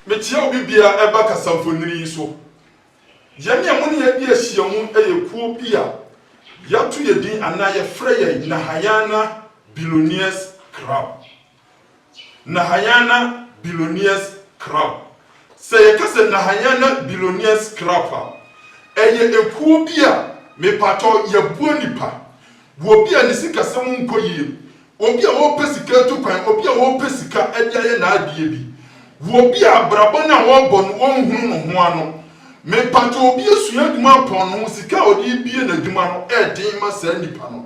Mekyia obi biara ɛba kasamfonini yi so. Yɛne a mo ne yɛadi ahyiam yɛ kuo bi a yɛato yɛn din anaa yɛfrɛ yɛn Nahayana Billionaires Club. Nahayana Billionaires Club. Sɛ yɛka sɛ Nahayana Billionaires Club a, ɛyɛ ekuo bi a mepaatɔ yɛboa nnipa. Obi a ne sikasɛm nkɔ yie, obi a ɔrepɛ sika atu kwan, obi a ɔrepɛ sika de ayɛ n'adeɛ bi, obi a abrabɔ no a ɔrebɔ no ɔnhunu ne ho ano. Mepaatɔ obi asua adwuma apɔn ne ho, sika a ɔde rebue n'adwuma no ɛyɛ den ma saa nipa no.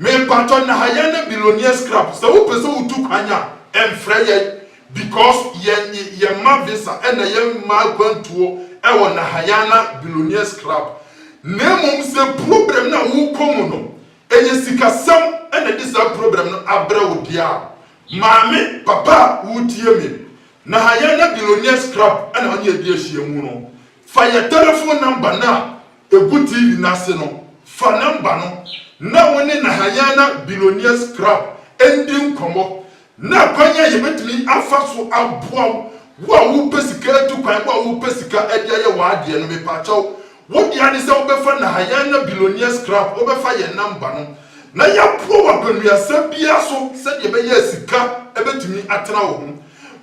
Me mpatsɔ Nahayɛ na Billionaire Scrap sɛ wo pɛ sɛ wo tu kwan a mfrɛ yɛn because yɛn yɛn ma visa na yɛn ma akwantuo wɔ Nahayɛ na Billionaire Scrap na mmom sɛ problem no a wo kɔ mu no ɛyɛ sika sɛm na ɛde saa problem no abrɛ wo deɛ a maame papa a wo tie me Nahayɛ na Billionaire Scrap na ɔne yɛde ahyia mu no fa yɛn telephone number no a Egu TV no ase no, fa nɔmba no na wo ne Nahayana Billionaires Club ndi nkɔmbɔ na akwan a yebetumi afa so aboa wo. Wo a worepɛ sika etu kwan, wo a worepɛ sika de ayɛ w'adeɛ no, mepakyɛw, wo dea ne sɛ wobɛfa Nahayana Billionaires Club, wobɛfa yɛn nɔmba no, na yɛaboa wo akwanuasa biara so sɛdeɛ ɛbɛyɛ a sika betumi atena wo ho.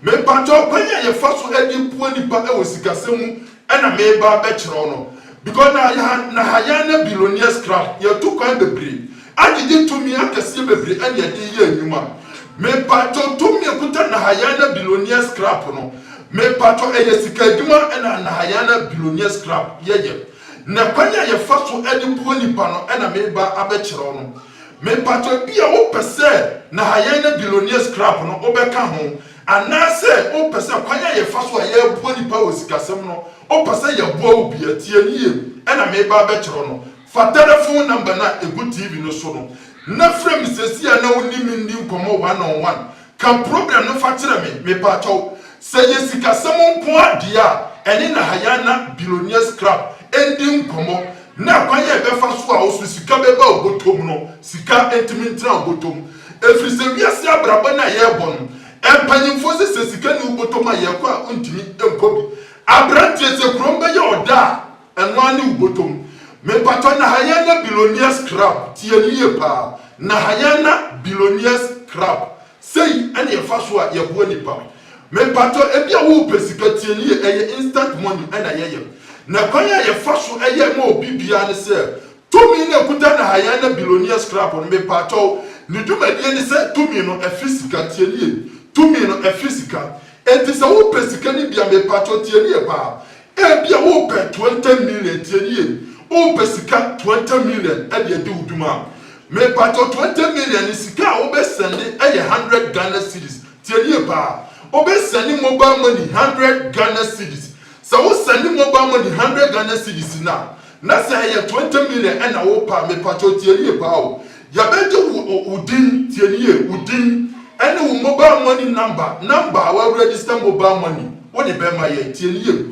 Mepakyɛ wo kwan a yɛfa so de bua nipa wɔ sikasɛm mu na mereba abɛkyerɛ wo no because na yɛ na ha yɛn na billionaires crowd yɛtu kwan bebree agyegye tumi akɛseɛ bebree ɛna yɛde yɛ adwuma mepakyɛ tumi ɛkuta na ha yɛn na billionaires crowd no mepakyɛ ɛyɛ sika adwuma ɛna na ha yɛn na billionaires crowd yɛyɛ na kwan a yɛfa so de bua nipa no ɛna mereba abɛkyerɛ wo no. Me mpakyɛw ebia wo pɛ sɛ Nahayɛn ne Billionaires Club no wo bɛka ho anaa sɛ wo pɛ sɛ kwan a yɛ fa so a yɛ boa nipa wɔ sikasɛm no wo pɛ sɛ yɛ boa wo bi a tie yie ɛna me ba abɛ kyerɛ wo no fa telephone number no a egu TV no so no na frɛ me sɛsi a na wo ne me nni nkɔmɔ one on one Ka problem no fa kyerɛ me mepakyɛw. Sɛ yɛ sikasɛm nkoaa deɛ a ɛne Nahayana Billionaires Club ndi nkɔmmɔ na akwan a yɛbɛfa so a ɔso sika bɛba wo bɔtɔm no sika ntumi ntena wo bɔtɔm ɛfiri sɛ wiase abrabɔ no a yɛrebɔ no mpanyimfoɔ sɛ sɛ sika nni wo bɔtɔm a yɛkɔ a wontumi nkɔ bi. Abranteɛ sɛ kurom bɛyɛ ɔdɔ a Ɛno ara ne wo botom. Mepatɔ Nahayana Billionaires Club tie nie paa Nahayana Billionaires Club sei ɛne ɛfa so a yɛboa nnipa Mepatɔ ebia wo pɛ sika tie nie ɛyɛ instant money ɛna yɛyɛ Na kwan a yɛfa so yɛ ma obi biara ne sɛ tumi no ɛkuta Nahayana Billionaires Club no mepatɔ ne dwumadie ne sɛ tumi no ɛfiri sika tie nie tumi no ɛfiri sika enti sɛ wo pɛ sika no bi a mepatɔ tie nie paa Ebia wopɛ twenty million tie no yie wopɛ sika twenty million de adi wo dwuma a, mepakyɛw twenty million no sika a wobɛ sɛnde yɛ hundred Ghana cedis tie no yie paa wobɛ sɛnde mobile money hundred Ghana cedis sɛ wo sɛnde mobile money hundred Ghana cedis no a, Na sɛ ɛyɛ twenty million ɛna wo pɛ a mepakyɛw tie nie paa o, yɛbɛgye wo wo din, tie no yie, wo din ɛne wo mobile money number, number a wa register mobile money wo de bɛma yɛn, tie no yie,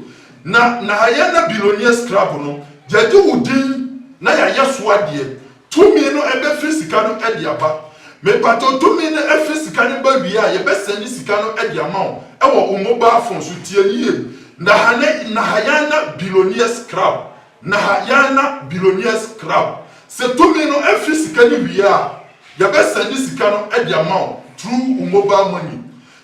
na na yɛn na billionaire scrabble no, yɛgye wo din na yɛayɛ so adeɛ, Tumi no bɛfiri sika no de aba. Mepatɔ tumi no firi sika no ba wie a, yɛbɛsɛne sika no de ama wo wɔ wo mobile phone so. Tie no yie. Nahane Nahayana Billionaires Club Nahayana Billionaires Club Sɛ tumi no firi sika no wie a, yɛbɛsɛne sika no de ama wo through wo mobile money.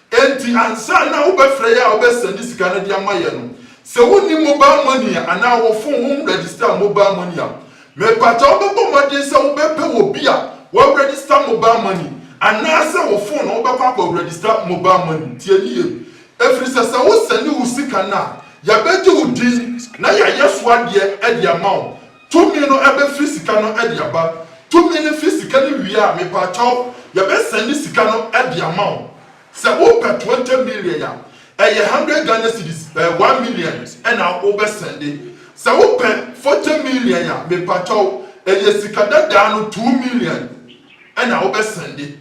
Enti ansa na wobɛfrɛ yɛ a wobɛsɛnde sika no de ama yɛ no, sɛ wonni mobal mɔni a anaa wo fon ho nrɛgistaa mobal mɔni a, mepagya wo bɛbɔ mmɔden sɛ wobɛpɛ obi a w'arɛgista mobal mɔni anaasɛ wo fon na wobɛkɔ akɔrɛgista mobal mɔni. Tie no yie, ɛfiri sɛ sɛ wosɛnde wo sika no a, yɛbɛgye wo din na yɛayɛ so adeɛ de ama wo. Tumi no ɛbɛ firi sika no ɛde aba. Tumi no firi sika no wie a, mepaakyɛw yɛbɛ sɛnde sika no ɛde ama wo. Sɛ wo pɛ twenty million a, ɛyɛ hundred Ghana cedis, ɛyɛ one million ɛna wo bɛ sɛnde. Sɛ wo pɛ forty million a, mepaakyɛw ɛyɛ sika dadaa no two million ɛna wo bɛ sɛnde.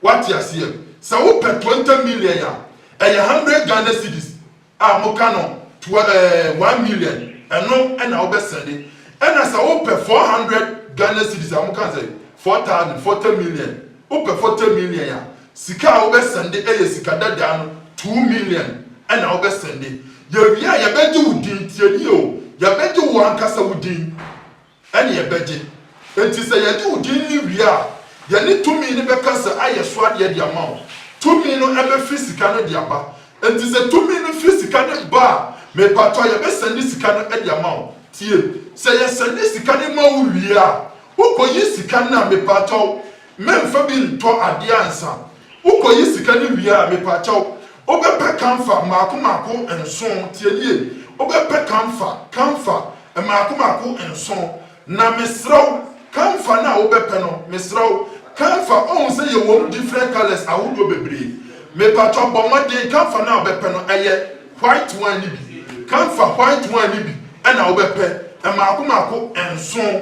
Wate aseɛ? Sɛ wo pɛ twenty million a, ɛyɛ hundred Ghana cedis. a moka no twa ɛɛ one million ɛno ɛna wobɛ sɛnde ɛna sɛ wopɛ four hundred Ghana cedis a moka no sɛ four thousand forty million wopɛ forty million a sika a wobɛ sɛnde ɛyɛ sika dadaa no two million ɛna wobɛ sɛnde yɛwie a yɛbɛgye wo din tie nie o yɛbɛgye wo ankasa wo din. ɛne ɛbɛgye. Enti sɛ yɛde wo din no wie a, yɛne tumi no bɛkasa ayɛ so adeɛ de ama wo. Tumi no bɛfiri sika no de aba. Enti sɛ tumi no firi sika no ba a, mepaatɔ yɛbɛsɛnde sika no de ama wo. Tie, sɛ yɛsɛnde sika no ma wo wie a, wokɔyi sika no a, mepaatɔ, Mɛnfa bi ntɔ adeɛ ansa. Wokɔ yi sika no wie a mepakyɛw wobɛpɛ kamfa mmaako mmaako nson tie yie wobɛpɛ kamfa kamfa mmaako mmaako nson na mesrɛ wo kamfa no a wobɛpɛ no mesrɛ wo kamfa wohu sɛ yɛwom different colours ahodoɔ bebree mepakyɛw bɔ mmɔden kamfa no a wobɛpɛ no ɛyɛ white one no bi kamfa white one no bi na wobɛpɛ mmaako mmaako nson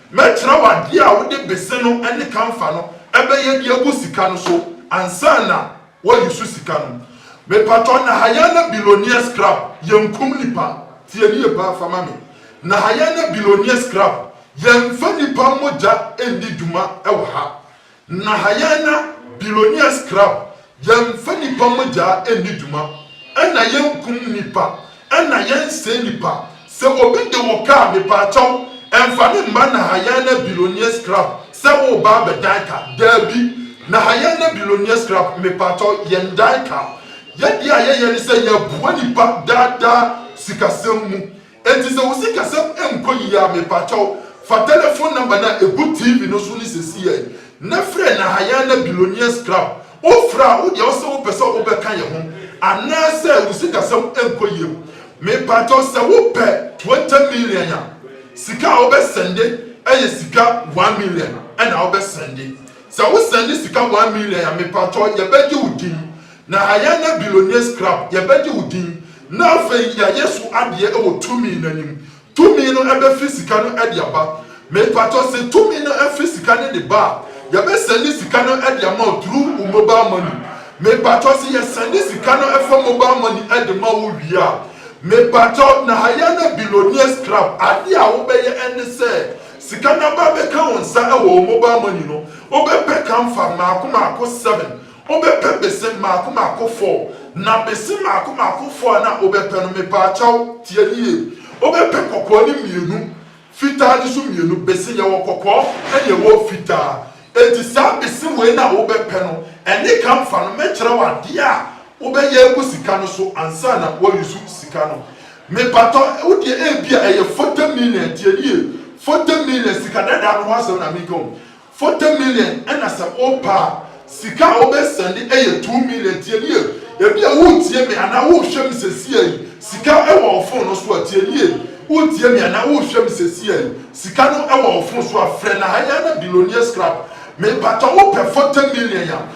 Mɛkyerɛ wo adeɛ a wode bese no ne kamfa no bɛyɛ de agu sika no so ansa na woayusu sika no. Mepatɔ Nahaya na Billionaire Scrap yɛnkum nipa, tie nie paa fa ma me, Nahaya na Billionaire Scrap yɛnfa nipa mogya nni dwuma wɔ ha, Na ha yɛn na billionaires club yɛnfa nipa mogyaa nni dwuma ɛna yɛnkum nipa ɛna yɛnsɛe nipa sɛ obi de wo car mepaakyɛw ɛnfa no mma na ha yɛn na billionaires club sɛ woreba abɛdan car daabi na ha yɛn na billionaires club mepaakyɛw yɛndan car yɛdeɛ a yɛyɛ ne sɛ yɛboa nipa daadaa sikasɛm mu Enti sɛ wo sikasɛm nkɔ yiye a, mepakyɛw, fa telefon nɔmba no a egu TV no so no sesei yi, na frɛ Nahayana Billionaires Club. Wofrɛ a, wo deɛ ɔsɛ wopɛ sɛ wobɛka yɛn ho anaasɛ wo sikasɛm nkɔ yie. Mepakyɛw, sɛ wopɛ twenty million a, sika a wobɛsɛnde yɛ sika one million na wobɛsɛnde. Sɛ wosɛnde sika one million a, mepakyɛw, yɛbɛgye wo din. Na yɛn ne Billonniers Club yɛbɛgye wo din na afei yɛayɛ so adeɛ wɔ tumi no anim. Tumi no bɛfiri sika no de aba. Mepakyɛw se tumi no firi sika no de ba a, yɛbɛsɛnde sika no de ama wo through wo mobile money. Mepakyɛw se yɛsɛnde sika no fa mobile money de ma wo wie a, mepakyɛw na yɛn ne Billonniers Club adeɛ a wobɛyɛ ne sɛ sika no aba abɛka wo nsa wɔ wo mobile money no, wobɛpɛ kamfa mmaako mmaako seven. Obɛpɛ bese mmaako mmaako four na bese mmaako mmaako four a na obɛpɛ no mepaakyɛw tie yie obɛpɛ kɔkɔɔ ne mmienu fitaa ne so mmienu bese yɛwɔ kɔkɔɔ ɛne ɛwɔ fitaa enti saa bese wei na wobɛpɛ no ɛne ka mfa no mɛkyerɛ wo adeɛ a wobɛyɛ agu sika no so ansa na woayusu sika no mepatɔ wo deɛ ebia ɛyɛ forty million tie yie forty million sika dadaa no ho asɛm na meka o Forty million ɛna sɛ wopɛ a sika a wobɛ sɛnde ɛyɛ two million tie nie ebia woretie me anaa worehwɛ me sesia yi sika ɛwɔ wo fon no so a tie nie woretie me anaa worehwɛ me sesia yi sika no ɛwɔ wo fon so a frɛ Nahayana Billionaires Club mepatɔ wopɛ forty million a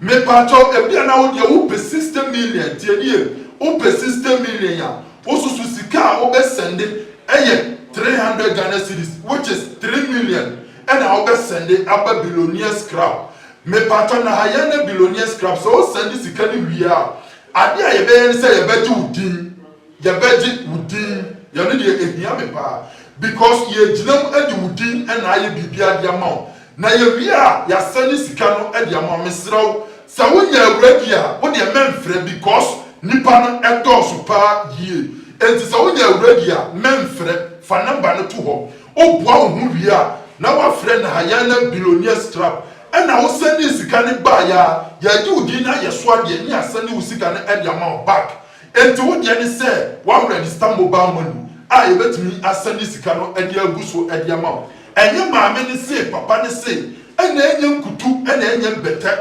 Mepaatɔ ebia na wodeɛ wopɛ sixty million tie me ye wopɛ sixty million a wosusu sika a wobɛ sɛnde ɛyɛ three hundred Ghana cedis which is three million ɛna wobɛ sɛnde aba billionaires crab mepaatɔ na ha yɛn ne billionaires crab sɛ wosɛnde sika no wie a adeɛ a yɛbɛyɛ ne sɛ yɛbɛgye wo din Yɛbɛgye wo din yɛ no deɛ ɛhia me paa because yɛregyina mu de wo din na ayɛ biribiara de ama wo na yɛwie a yɛasɛne sika no de ama wo. Mesrɛ wo sɛ wonya awura bi a wo deɛ mɛmfrɛ because nnipa no dɔɔso paa yie nti sɛ wonya awura bi a mɛmfrɛ fa number no to hɔ woboa wo ho wie a na woafrɛ Nahayana Billionaires Club ɛna wo sɛnee sika no baeɛ a yɛagye wo din na ayɛ so adeɛ ne yɛasɛne wo sika no de ama wo back Enti wo deɛ ne sɛ woarɛgista mobal mɔni a yɛbɛtumi asɛnde sika no de agu so de ama wo. Ɛnyɛ maame no sei, papa no sei, ɛna ɛnyɛ nkutu, ɛna ɛnyɛ mbɛtɛ.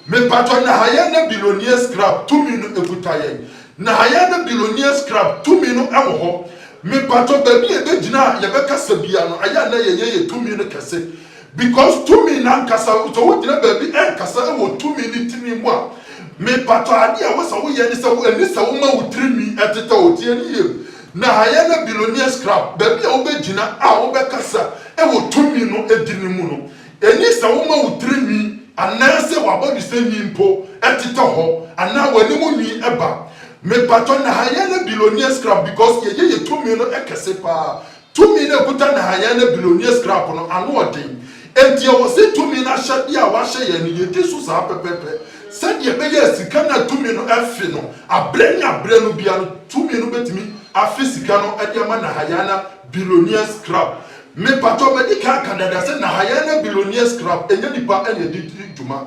Mepatɔ Nahayɛ na Billionaires Club tumi no ɛkuta yɛn? Nahayɛ na Billionaires Club tumi no ɛwɔ hɔ? Mepatɔ baabi a ɛbɛgyina a yɛbɛkasa bia no, ɛyɛ a na yɛyɛ yɛ tumi no kɛse. Because tumi no ankasa no sɛ wogyina baabi ɛnkasa ɛwɔ tumi ne tini mu a me patɔ adeɛ ɛwɔ sɛ woyɛ ne sɛ ɛni sɛ woma wo tiri nwi ɛtetɛ wo tie ne yie na ayɛ na billionaires club baabi a wobɛ gyina a wobɛ kasa ɛwɔ tumi no ɛdini mu no ɛni sɛ woma wo tiri nwi anaa sɛ w'abɔdwesɛ nwi mpo ɛtetɛ hɔ anaa w'anim nwi ɛba me patɔ na ayɛ na billionaires club because yɛyɛ yɛ tumi no ɛkɛse paa Tumi no a ɛkuta Nahayɛ ne Belonia skrap no, ano yɛ den. Enti ɛwɔ sɛ tumi no ahyɛdeɛ a wɔahyɛ yɛn no, yɛdi so saa pɛpɛɛpɛ, sɛdeɛ ɛbɛyɛ a sika no a tumi no afe no, aberɛ ne aberɛ no biara no, tumi no bɛtumi afe sika no de ama Nahayɛ ne Belonia skrap. Mepatɔ, madi kan aka dada sɛ, Nahayɛ ne Belonia skrap, ɛnyɛ nnipa na ɛde di dwuma.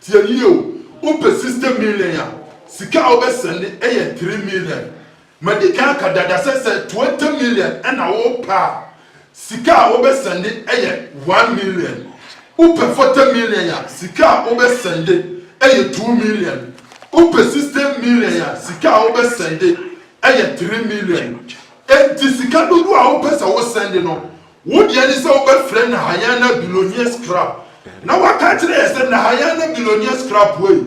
Tie yie o, wopɛ sixty million a, sika a wobɛ sɛnde yɛ three million. Madi kan aka dada sɛ sɛ twenty million na wopɛ a, sika a wobɛ sɛnde yɛ one million. Wopɛ forty million a, sika a wobɛ sɛnde yɛ two million. Wopɛ sixty million a, sika a wobɛ sɛnde yɛ three million. Enti sika dodoɔ a wopɛ sɛ wo sɛnde no, Wo deɛ ne sɛ wobɛfrɛ Nahayana Billionaires Club na woaka akyerɛ yɛn sɛ Nahayana Billionaires Club wei,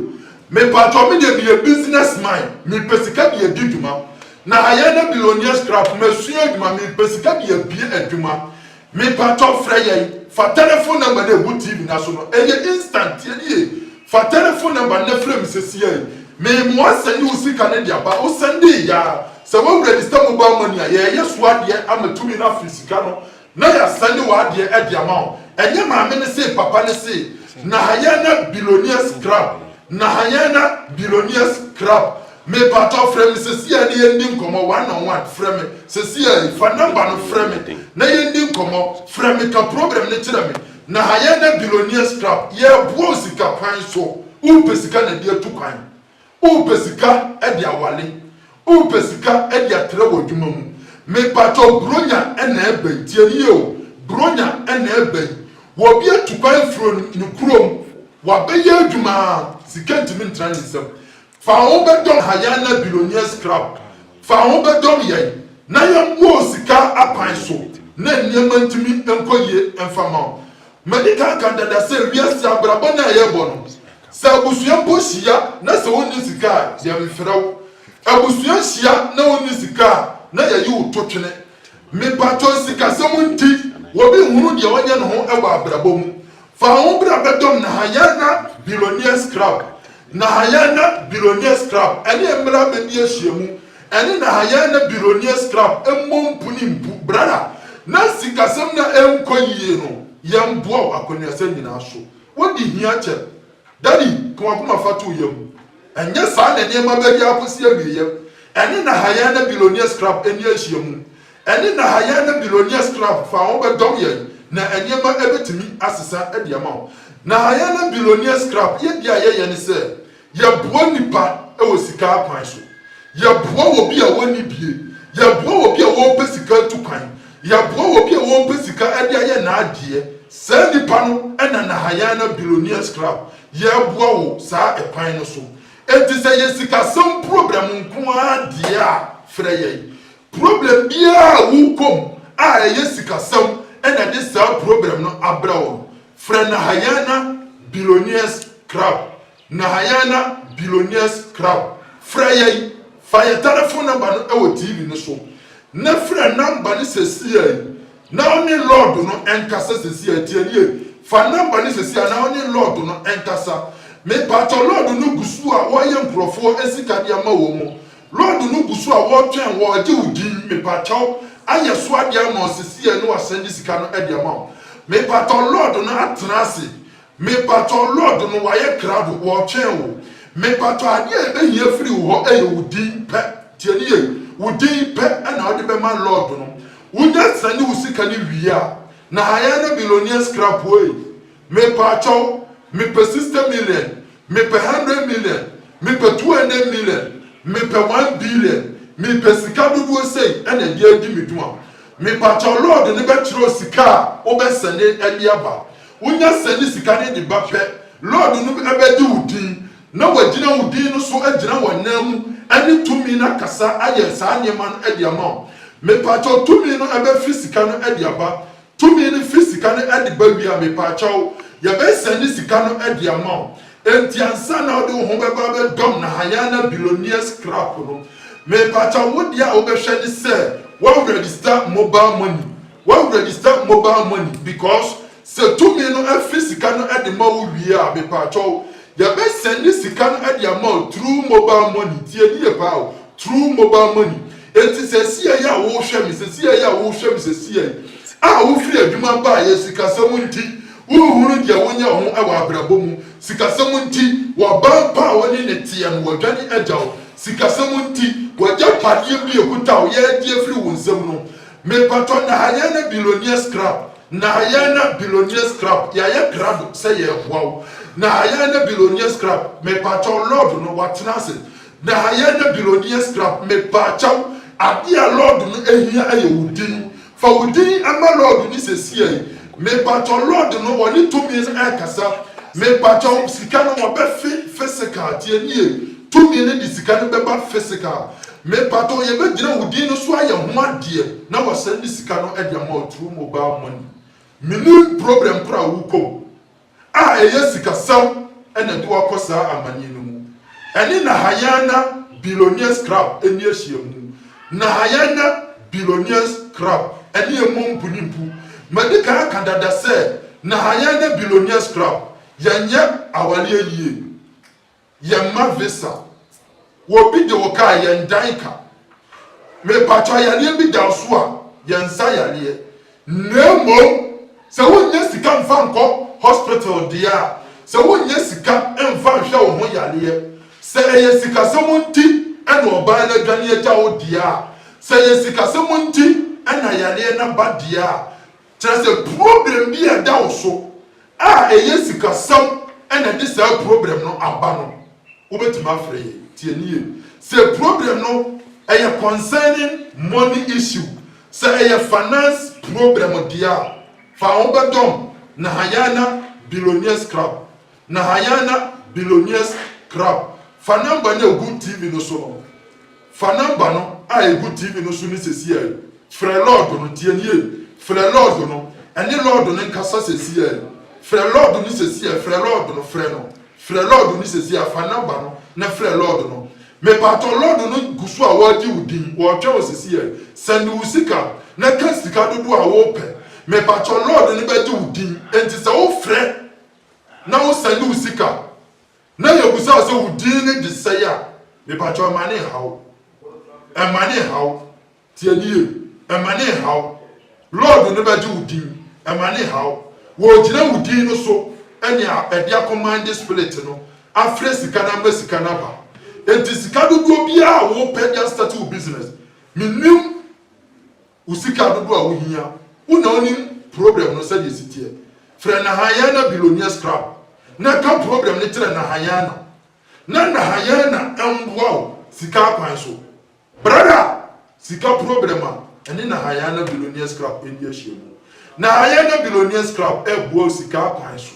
mepatwɔ me deɛ meyɛ business man, mepɛ sika de adi dwuma. Nahayana Billionaires Club, masua adwuma, mepɛ sika de abue adwuma. Mepatwɔ frɛ yɛn, fa telephone number no a ɛgu TV no so no, ɛyɛ instant, yɛde yɛ. Fa telefon nɛmba no na frɛ me sesiei. Mee mo asɛnde wo sika no de aba. Wo sɛndee yɛ a, sɛ wo rɛdista mobal mɔni a, yɛɛ yɛ so adeɛ ama tumi no afiri sika no na yɛ asɛnde wo adeɛ ɛde ama wo. Ɛnyɛ maame no see papa no see Nahayɛn na Billionaires Club Nahayɛn na Billionaires Club Mepaatɔ frɛ me sesiei na yɛndi nkɔmɔ one on one frɛ me sesiei fa nɛmba no frɛ me na yɛndi nkɔmɔ frɛ me ka problem no kyerɛ me Na ha yɛ na billionaires club yɛboa wo sika kwan so wopɛ sika na de atu kwan wopɛ sika de awale wopɛ sika de atra wɔ adwuma mu me pakyɛw bronya na ɛbɛn tie ne yie o bronya na ɛbɛn wɔ bi atu kwan firi ne kurom wabɛyɛ adwuma sika ntumi ntra ne nsam Fa wo bɛdɔm ha yɛn na billionaires club fa wo bɛdɔm yɛn na yɛn boa wo sika akwan so na nneɛma ntumi nkɔ yie mfa ma wo madi kan ka dada sɛ wiase abrabɔ no a yɛbɔ no sɛ abusua mpo hyia na sɛ wonni sika a yɛn mfrɛ wo abusua nhyia na wonni sika a na yɛyi wo to twene me patrɔ sikasɛm nti obi nhunu deɛ ɔnyɛ ne ho wɔ abrabɔ mu Fa ho bra bɛdɔm Nahaya na Billionaires Club, Nahaya na Billionaires Club ne mmra bɛdi ahyiamu ɛne Nahaya na Billionaires Club mmɔ mpu ne mpu brada na sikasɛm no a ɛnkɔ yie no yɛmboa wo akwannuasɛm nyinaa so wode hia kyɛ Daddy ka wakoma fa to wo yam ɛnyɛ saa na nneɛma bɛyɛ akɔsi awieɛ ɛne Nahaya na Billionaires Club nni ahyiamu Ɛne Nahayɛ ne Billionaires Club fa a wɔbɛdɔm yɛn na nneɛma betumi asesa de ama wo. Nahayɛ ne Billionaires Club yɛ bi a yɛyɛ ne sɛ yɛboa nnipa wɔ sika akwan so. Yɛboa obi a onni bie, yɛboa obi a ɔrepɛ sika atu kwan, yɛboa obi a ɔrepɛ sika de ayɛ n'adeɛ. Saa nnipa no na Nahayɛ ne Billionaires Club yɛboa wɔ saa ɛkwan no so. Enti sɛ ɛyɛ sikasɛm problem nko ara deɛ a, frɛ yɛn. Problem biara a wokɔ mu a ɛyɛ sikasɛm na ɛde saa problem no abrɛ wo no, frɛ Nahayana Billionaires Club, Nahayana Billionaires Club. Frɛ yɛn, fa yɛn telefon nɔmba no wɔ TV no so, na frɛ nɔmba no sesiei na wo ne Lord no nkasa sesiei. Tie nie, fa nɔmba no sesiei na wo ne Lord no nkasa. Mepaatɔ, Lord no gu so a ɔyɛ nkurɔfoɔ sika de ama wɔn. Lord no gu so a wɔtwɛn wɔ agye wo din mepakyɛw ayɛ so ade ama wo sesei ɛne wasan de sika no ɛde ama wo mepakyɛw Lord no atena ase mepakyɛw Lord no wayɛ krado wɔtwɛn wo mepakyɛw ade a yɛbɛhia afiri wo hɔ ɛyɛ wo din pɛ tie no yie wo din pɛ ɛna wode bɛma Lord no wonya sane wo sika no wie a na Hayana billionaires krapoe Me paakyɛw me pɛ sista million me pɛ hundred million me pɛ two hundred million me pɛ one billion me pɛ sika dodoɔ sei ɛna ɛde adi me dwuma me paakyɛw lɔɔdo no bɛ kyerɛw sika a wo bɛ sɛne ɛde aba wo nya sɛne sika no de ba pɛ lɔɔdo no bɛ gye wo din na wa gyina wo din no so agyina wa nan mu ɛne tumi no akasa ayɛ saa nneɛma no ɛde ama wo me paakyɛw tumi no ɛbɛ firi sika no ɛde aba Tumi no fi sika no ɛde ba wie a mepakyɛw yɛbɛ sɛnde sika no ɛde ama wo ɛnti ansa na wode wo ho bɛba abɛ dɔm na Hayana billionaires crap no mepakyɛw wo deɛ a wobɛ hwɛ ne sɛ wa register mobile money wa register mobile money because sɛ tumi no ɛfe sika no ɛde ma wo wie a mepakyɛw Yɛbɛ sɛnde sika no de ama wo through mobile money, tie no yie paa o, through mobile money, enti sɛsiɛi a wohwɛ me, sɛsiɛi a wohwɛ me sɛsiɛi a wofiri adwuma baeɛ, sikasɛm nti, wonhunu deɛ wonyɛ ho wɔ abrabɔ mu, sikasɛm nti, w'abaa pa a wo ne no teɛ no wadwane agya wo, sikasɛm nti, w'agyapadeɛ bi a ɛkuta wo, yɛregye afiri wo nsam no, Me patɔ na ayɛ na billionaires club na ayɛ na billionaires club yayɛ krado sɛ yɛboa wo na ayɛ na billionaires club me patɔ lord no watena ase na ayɛ na billionaires club me pakyɛw adeɛ a lord no ahia ɛyɛ wo din fa wo din ma lord no sesiei me patɔ lord no wɔne tumi no ɛkasa me pakyɛw sika no wɔbɛ fe physical tienie tumi no de sika no bɛba physical Mepatɔ yɛbɛgyina wo din no so ayɛ ho adeɛ na wasan de sika no de ama wo through mobile money. Menim problem korɔ a worekɔ mu a ɛyɛ sikasɛm na ɛde wo akɔ saa amanneɛ no mu. Ɛne Nahayana Billionaires Club nni ahyiamu. Nahayana Billionaires Club ne ɛmmɔ mpu ne mpu. Madi kan aka dada sɛ Nahayana Billionaires Club yɛnyɛ awareɛ yie. Yɛn mma visa. Wɔ bi de wo kaa yɛn dan ka. Me pakyɛ ɔyareɛ bi da wo so a yɛn nsa yareɛ. Na mmom sɛ wo nnya sika nfa nkɔ hospital deɛ a sɛ wo nnya sika nfa nhwɛ wo ho yareɛ sɛ ɛyɛ sikasɛm nti ɛna ɔbaa no adwane agya wo deɛ a sɛ ɛyɛ sikasɛm nti ɛna yareɛ no aba deɛ a Kyerɛ sɛ, probrɛm bi a ɛda wo so a ɛyɛ sikasɛm na ɛde saa probrɛm no aba no, wobɛtumi afrɛ yɛn. Tie no yie. Sɛ probrɛm no yɛ concerning money issue, sɛ ɛyɛ finance probrɛm deɛ a, fa wo bɛdɔm na Hayana Billionaires Club Na Hayanah Billionaires Club fa number no a egu TV no so no Fa number no a egu TV no so no sesiaa yi Frɛ Lord no Tie nie Frɛ Lord no Ɛne Lord no nkasa sesiaa yi Frɛ Lord no sesiaa yi Frɛ Lord no Frɛ no Frɛ Lord no sesiaa yi Fa number no na frɛ Lord no Mepaatɔ Lord no gu so a wɔregye wo din Wɔretwɛn wo sesiaa yi Sɛnde wo sika na ka sika dodoɔ a worepɛ Mepaatɔ Lord no bɛgye wo din Enti sɛ wofrɛ na wo sɛnde wo sika na yɛ bisa wo sɛ wo din ne de sɛe a mepakyɛw ɛma ne nhaw wo ɛma ne nhaw wo tie ne yie ɛma ne nhaw wo lɔɔdo no bɛgye wo din ɛma ne nhaw wo wɔɔgyina wo din no so ɛne a ɛde akɔ mande spirit no afrɛ sika no ama sika no aba enti sika dodoɔ biaa a wo pɛ de astate wo business menim Wo sika dodoɔ a wo hia. Wo na wo nim problem no sɛdeɛ ɛsi teɛ. Frɛ Nahayana Billionaires Club na ka problem no kyerɛ Nahayana na Nahayana mboa wo sika akwan so. Brada sika problem a ɛne Nahayana Billionaires Club ɛdi ahyiamu. Nahayana Billionaires Club ɛboa wo sika akwan so.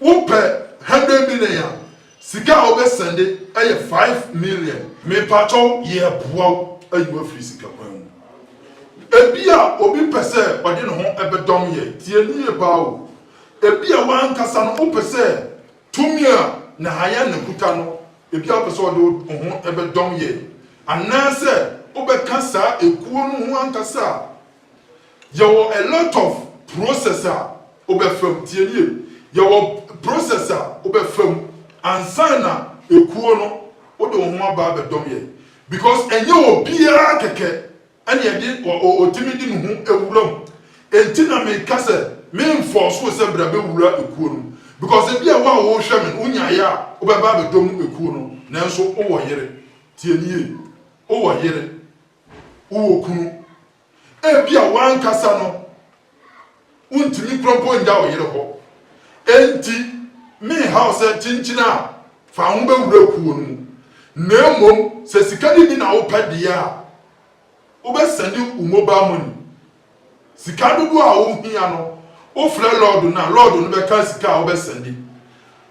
Wo pɛ hundred million a sika a wo bɛ sɛnde ɛyɛ five million. Me pakyɛ wo yɛ boa wo ayi wo afiri sika kwan mu. Ebia obi pɛ sɛ ɔde ne ho ɛbɛ dɔm yɛ, tie no yie paa o. Ebia wo ankasa no wo pɛ sɛ tumi a Nahayana kuta no ebia wo pɛ sɛ ɔde wo ho ɛbɛ dɔm yɛ. Anaasɛ wo bɛ ka saa ekuo no ho ankasa a. Yɛwɔ a lot of process a wobɛfa mu, tie nie, yɛwɔ process a wobɛfa mu ansa na ekuo no wode wo ho aba abɛdɔm yɛn because ɛnyɛ obiara kɛkɛ ɛne ɛde ɔtumi de ne ho ewura mu. Enti na meka sɛ menfɔɔso wo sɛ bra bɛwura ekuo no mu because ebi a wo a wohwɛ me no wonyaeɛ a wobɛba abɛdɔm ekuo no nanso wowɔ yere, tie nie, wowɔ yere. wowɔ kunu. Ebia w'ankasa no, wuntumi kura mpo nnya wo yere hɔ. Enti, menha wo sɛ kyenkyen a, fa ho bɛwura kuw no mu. Na mmom sɛ sika no bi na wopɛ deɛ a, wobɛsɛnde wo mobile money. Sika dodoɔ a wohia no, wofrɛ lɔɔdo no a, lɔɔdo no bɛka sika a wobɛsɛnde.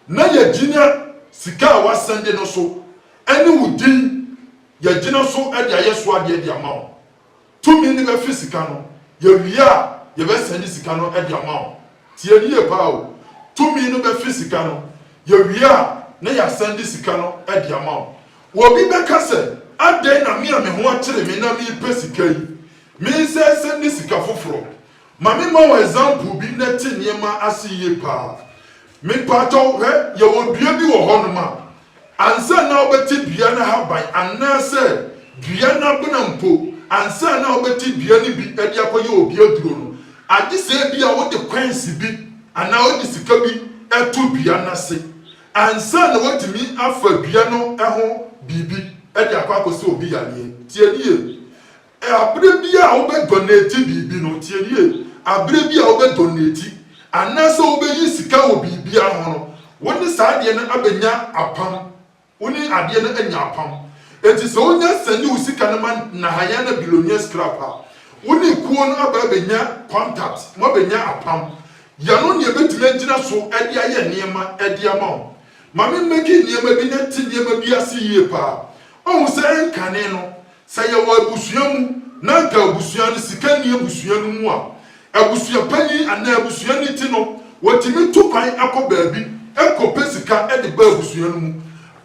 Na yɛgyina sika a woasɛnde no so ne wo din. Yɛagyina so de ayɛ so adeɛ de ama wo. Tumi no bɛfe sika no. Yɛwie a, yɛbɛsɛnde sika no de ama wo. Tie no yie paa o. Tumi no bɛfe sika no. Yɛwie a, na yɛasɛnde sika no de ama wo. Obi bɛka sɛ, Adɛn na me a me ho akyere me na mepɛ sika yi, mensɛ sɛnde sika foforɔ? Ma me ma wo example bi na te nneɛma ase yie paa. Me paatɔ hwɛ yɛwɔ dua bi wɔ hɔ nom a ansa na wo bɛte dua no ahaban anaa sɛ dua no abena mpo ansa na wo bɛte dua no bi de akɔ yɛ obi aduro no agye sɛ ebi a wo de coins bi anaa wo de sika bi to dua no ase ansa na watumi afa dua no ho biribi de akɔ akɔ sɛ obi yareɛ. Tie nie. Bere biara a wobɛdonate biribi no, tie no yie, bere biara a wobɛdonate anaasɛ wobɛyi sika wɔ biribiara ho no, wo ne saa adeɛ no abɛnya apam. Wo ne adeɛ no anya apam. Enti sɛ wonya sɛnde wo sika no ma Nahayana Billionaires Club a, wo ne kuo no aba abɛnya contact, moabɛnya apam. Yɛno na yɛbɛtumi agyina so de ayɛ nneɛma de ama wo. Ma me mmɛki nneɛma bi na te nneɛma bi ase yie paa. Woahu sɛ ɛnkane no, Sɛ yɛwɔ abusua mu na anka abusua no sika nni abusua no mu a, abusuapanyin anaa abusuani ti no, wɔtumi tu kwan kɔ baabi kɔpɛ sika de ba abusua no mu.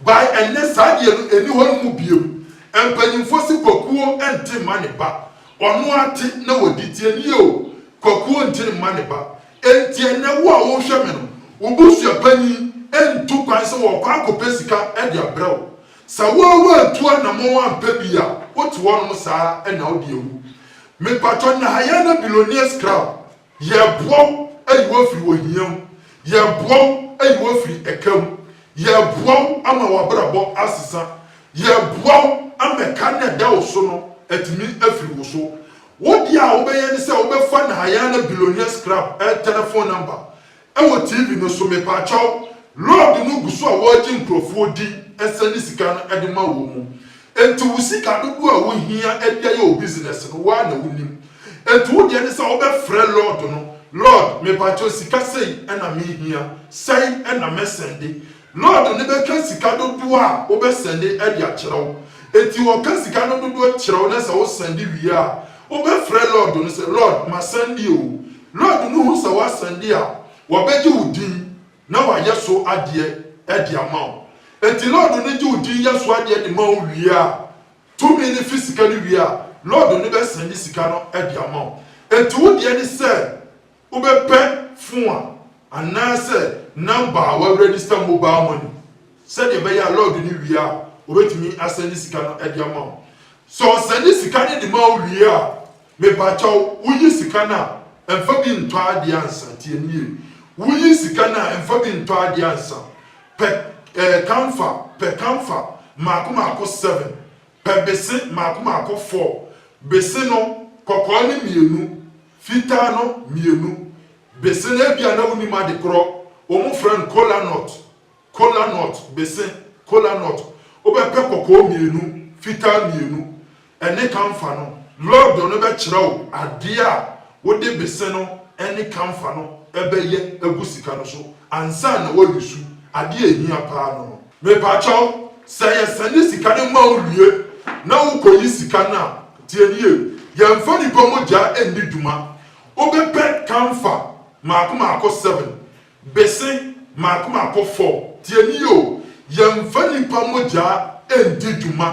By ɛnnɛ, saa adeɛ no nni hɔ no mu biom. Mpanyimfoɔ se Kwakuo nte mma ne ba. Ɔno ara te na wadi. Tie no yie o, Kwakuo nte mma ne ba. Enti ɛnnɛ, wo a worehwɛ me no, wo busuapanyin ntu kwan sɛ ɔrekɔ akɔpɛ sika de abrɛ wo. Sɛ wo ara woantu anamɔn ampɛ bi a, wote hɔnom saa ara na wode awu. Mepatwɔ nnɛ ha yɛn ne Billionaires Club, yɛreboa wo ayi wo afiri ohia mu, yɛreboa wo ayi wo afiri ɛka mu, yɛreboa wo ama w'abrabɔ asesa, yɛreboa wo ama ɛka no a ɛda wo so no atumi afiri wo so. Wo deɛ a wobɛyɛ ne sɛ wobɛfa Nahayana Billionaires Club telefon nɔmba Ɛwɔ TV no so mepakyɛw. Lord no gu so a ɔregye nkurɔfoɔ di nsa ne sika no de ma wɔn mu. Enti wo sika dodoɔ a wo hia de ayɛ wo business no wo ara na wo nim. Enti wo deɛ ne sɛ wo bɛ frɛ Lord no, Lord mepakyɛw sika sei na me hia, sɛi na mɛ sɛnde. Lord no bɛka sika dodoɔ a wo bɛ sɛnde de akyerɛ wo. Enti ɔka sika no dodoɔ kyerɛ wo na sɛ wo sɛnde wie a, wo bɛ frɛ Lord no sɛ Lord ma sɛnde o, Lord no hu sɛ woasan bi a, wɔbɛgye wo din na wɔayɛ so adeɛ de ama wo. Enti Lord no gye wo din yɛ so adeɛ de ma wo wie a, tumi no fi sika no wie a, Lord no bɛsan bi sika no de ama wo. Enti wo deɛ ne sɛ wobɛpɛ phone a anaasɛ number a wɔaregister mobile money sɛdeɛ ɛbɛyɛ a Lord no wie a, wɔbɛtumi asan bi sika no de ama wo. Sɛ wɔsan bi sika no de ma wo wie a, Mepakyɛw woyi sika no a mfa bi ntɔ adeɛ ansa tie me yie woyi sika no a mfa bi ntɔ adeɛ ansa pɛ eh kamfa pɛ kamfa mmaako mmaako seven pɛ bese mmaako mmaako four bese no kɔkɔɔ no mmienu fitaa no mmienu bese no ebia na wonim ade korɔ wɔn frɛ no kola nut. Kola nut, bese, kola nut, Wobɛpɛ kɔkɔɔ mmienu, fitaa mmienu, ne kamfa no. Lɔɔdo no bɛkyerɛ wo adeɛ a wode bese no ne kamfa no bɛyɛ agu sika no so ansa na woayusu adeɛ a ɛhia pa ara no no. Mepakyɛw, sɛ yɛsɛnde sika no ma wo wie na wokɔyi sika no a, tie no yie, yɛmfa nnipa mogya nni dwuma. Wobɛpɛ kamfa mmaako mmaako seven, Bese m'akoma kɔ fɔm, tie me oo, yɛnfa nipa mogyaa ɛndi dwuma,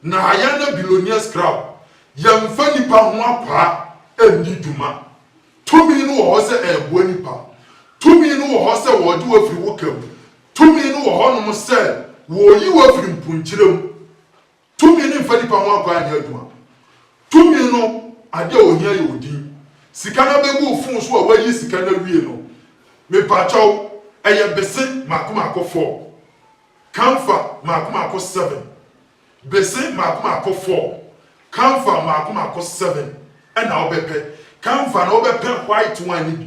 na Ayana Billionaires Club yɛnfa nipa ho akwaa ɛndi dwuma, tumi no wɔ hɔ sɛ ɛɛboa nipa, tumi no wɔ hɔ sɛ wɔɔgye wo afiri wo ka mu, tumi no wɔ hɔ nom sɛ wɔɔyi wo afiri mpunkyerɛ mu, Tumi no mfa nipa ho akwan nyɛ adwuma. Tumi no ade a ohia yɛ odin. Sika no abegu wo fon so a woayi sika no awie no, mepakyɛw, ɛyɛ bese mako mako four. Kamfa mako mako seven. Bese mako mako four, kamfa mako mako seven ɛna wobɛpɛ. Kamfa no wobɛpɛ white one no bi.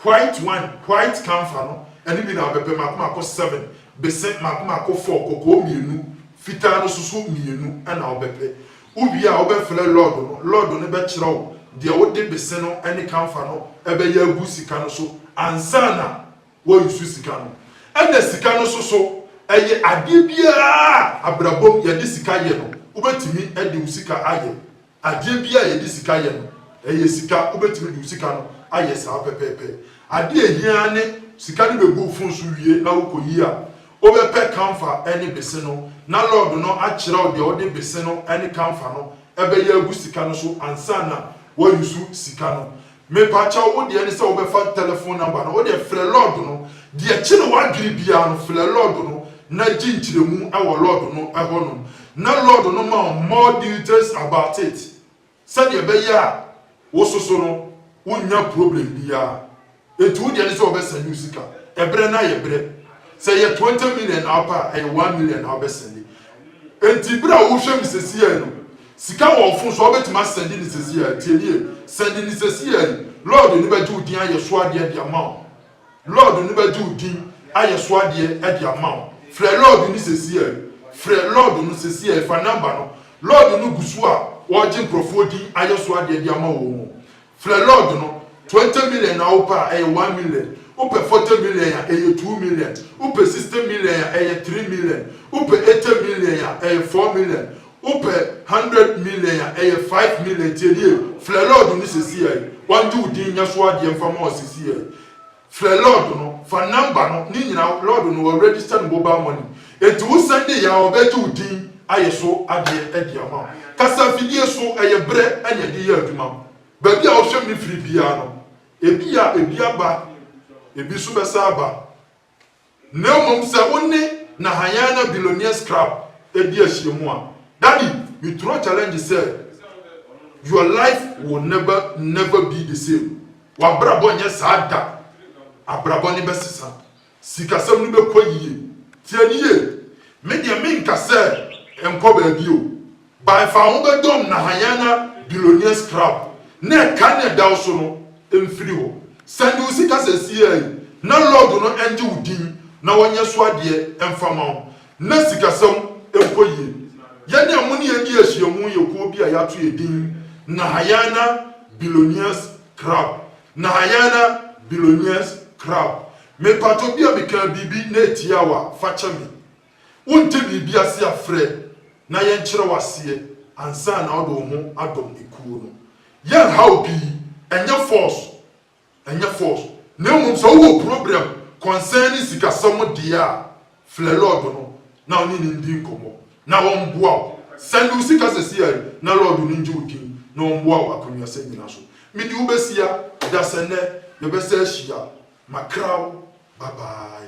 White wine, white camphor no, ɛno bi na abɛpɛ mako mako seven, bese mako mako four, kɔkɔɔ mmienu, fitaa no soso mmienu na wobɛpɛ. Wowie a wobɛfrɛ lɔɔdo no, lɔɔdo no bɛkyerɛ wo deɛ wode bese no ne camphor no bɛyɛ agu sika no so ansa na woayusu sika no. Ɛna sika no soso, ɛyɛ adeɛ biara a abrabɔ mu yɛde sika yɛ no, wobɛtumi de wo sika ayɛ. Adeɛ biara a yɛde sika yɛ no, ɛyɛ sika. Wobɛtumi de wo sika no ayɛ saa pɛpɛɛpɛ. Adeɛ a ɛhia ara ne sika no bɛgu wo fon so wie na wokɔyi a, wobɛpɛ kamfa ne bese no, na lɔɔdo no akyerɛ wo deɛ wode bese no ne kamfa no bɛyɛ agu sika no so ansa na woayusu sika no. Mepakyɛw wo deɛ ne sɛ wobɛfa telephone number no wodeɛ frɛ lord no deɛ kye ne wadwene biara no frɛ lord no na gye nkyerɛmu wɔ lord no hɔ nom na lord no ma wo more details about it sɛdeɛ ɛbɛyɛ a wo soso no wo nnya problem biara enti wodeɛ ne sɛ wɔbɛ sɛnde wo sika ɛbrɛ no ayɛ brɛ sɛ ɛyɛ 20 million na wopɛ a ɛyɛ 1 million na wobɛ sɛnde enti berɛ a wohwɛ me sɛsiɛ no Sika wɔ wofon so a wobɛtumi asɛnde no sesei ara, tie me yie, sɛnde no sesei ara yi, Lɔɔdo no bɛgye wo din ayɛ so adeɛ de ama wo, Lɔɔdo no bɛgye wo din ayɛ so adeɛ de ama wo, frɛ Lɔɔdo no sesei ara yi, frɛ Lɔɔdo no sesei ara yi, fa number no, Lɔɔdo no gu so a ɔregye nkorɔfoɔ din ayɛ so adeɛ de ama wɔn o. Frɛ lord no, twenty million na wo pɛ a ɛyɛ one million, wo pɛ forty million a ɛyɛ two million, wo pɛ sixty million a ɛyɛ three million, wo pɛ eighty million a ɛyɛ four million, wo pɛ hundred million a ɛyɛ five million, tie nie, frɛ lord no sesiɛi, wangye wo din nyɛ so adeɛ mfa ma wo sesiɛi. Frɛ lɔɔd no, fa nɔmba no, ne nyina lɔɔd no wɔ register no mobile money enti wo sɛnde yɛ a ɔbɛgye wo din ayɛ so adeɛ de ama wo. Kasa afidie so ɛyɛ berɛ na yɛde yɛ adwuma. Baabi a wohwɛ me firi biara no, ebi a ebi aba, ebi nso bɛsan aba. Na mmom sɛ wo ne Nahayana Billionaires Club di ahyiamu a, Daddy, me throw challenge sɛ your life will never never be the same. W'abrabɔ nyɛ saa da. Abrabɔ no bɛsesa. Sikasɛm no bɛkɔ yie. Tie no yie. Me deɛ menka sɛ nkɔ baabi o. Bae fa wo ho bɛdɔm na hanyanya billionaires crowd na ɛka ne ɛda wo so no mfiri hɔ sɛnde wo sika sɛsiea yi na lord no ɛngye wo din na wɔnyɛ so adeɛ mfa ma wo na sikasɛm nkɔ yie yɛne a mo ne yɛn di ahyiamu yɛ kuo bi a yɛato yɛ din nahanyana billionaires crowd nahanyana billionaires crowd mepato bia mekaa biribi na ɛtia wo a fa kyɛ me. Wonte biribi ase a frɛ na yɛnkyerɛ wo aseɛ ansa na wode wo ho adom ekuo no. Yɛnha wo pii, ɛnyɛ force, ɛnyɛ force, na mmom sɛ wowɔ problem concerning sikasɛm deɛ a, frɛ Lord no na wone no ndi nkɔmmɔ na wɔmboa wo. Sɛnde wo sika sɛsi a yi na Lord no ngye wo din na ɔmboa wo akwannuasɛm nyina so. Mede wo bɛsia da sɛ nnɛ yɛbɛsa ahyia. Makra wo, bye bye.